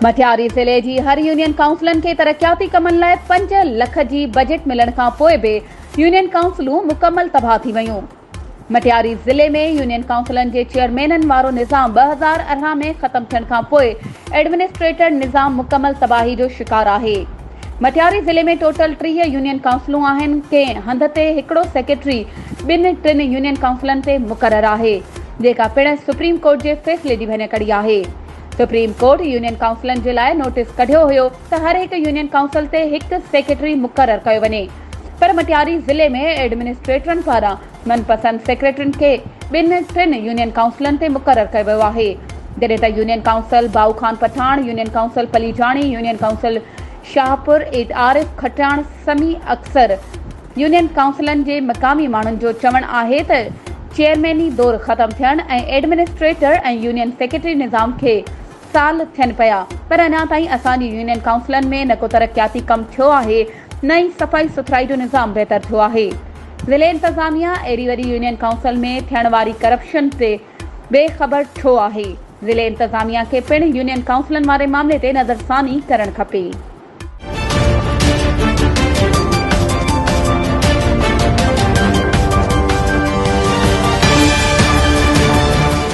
مٺياري ضلعي جي هر يونين ڪائونسلن کي ترقياتي ڪمن لاء پنج لک جي بجيٽ ملڻ کانپوء به يونين ڪائونسلون مڪمل تباهه ٿي ويون مٽياري ضلعي ۾ يونين ڪائونسلن جي چيئرمينن وارو نظام ٻه هزار ارڙهن ۾ ختم ٿيڻ کان پوء ايڊمنسٽريٽر نظام مڪمل تباهي جو شڪار آهي. مٽياري ضلعي ۾ ٽوٽل ٽيهه يونين ڪائونسلون آهن، ڪنهن هنڌ تي هڪڙو سيڪريٽري ٻن ٽن يونين ڪائونسلن تي مقرر آهي، جيڪا پڻ سپريم ڪورٽ جي فيصلي جي ڀڃڪڙي آهي. سپريم ڪورٽ يونين ڪائونسلن جي لاء نوٽيس ڪڍيو هيو ته هر هڪ يونين ڪائونسل تي هڪ سيڪريٽري مقرر ڪيو وڃي. پر مٽياري ضلعي ۾ ايڊمنسٽريٽرن پاران من پسند سيڪريٽرين کي ٻن ٽن يونين ڪائونسلن تي مقرر ڪيو ويو آهي جڏهن ته union council Bhau Khan Pathan, union council Palijani, union council Shahpur, ايد عارف کٽياڻ سمي اڪثر يونين ڪائونسلن جي مقامي ماڻهن جو چوڻ آهي ته چيئرميني دور ختم ٿيڻ ۽ ايڊمنسٽريٽر ۽ يونين سيڪريٽري نظام کي سال ٿين پيا پر اڃا تائين اسان جي يونين ڪائونسلن ۾ نه ڪو ترقياتي ڪم ٿيو آهي نه ئي صفائي سٿرائي جو نظام بهتر ٿيو آهي ضلعي انتظاميا اهڙي وڏي يونين ڪائونسل ۾ ٿيڻ واري ڪرپشن تي بي خبر ڇو آهي ضلعي انتظاميا کي پڻ يونين ڪائونسلن واري معاملي تي نظرثاني ڪرڻ کپي.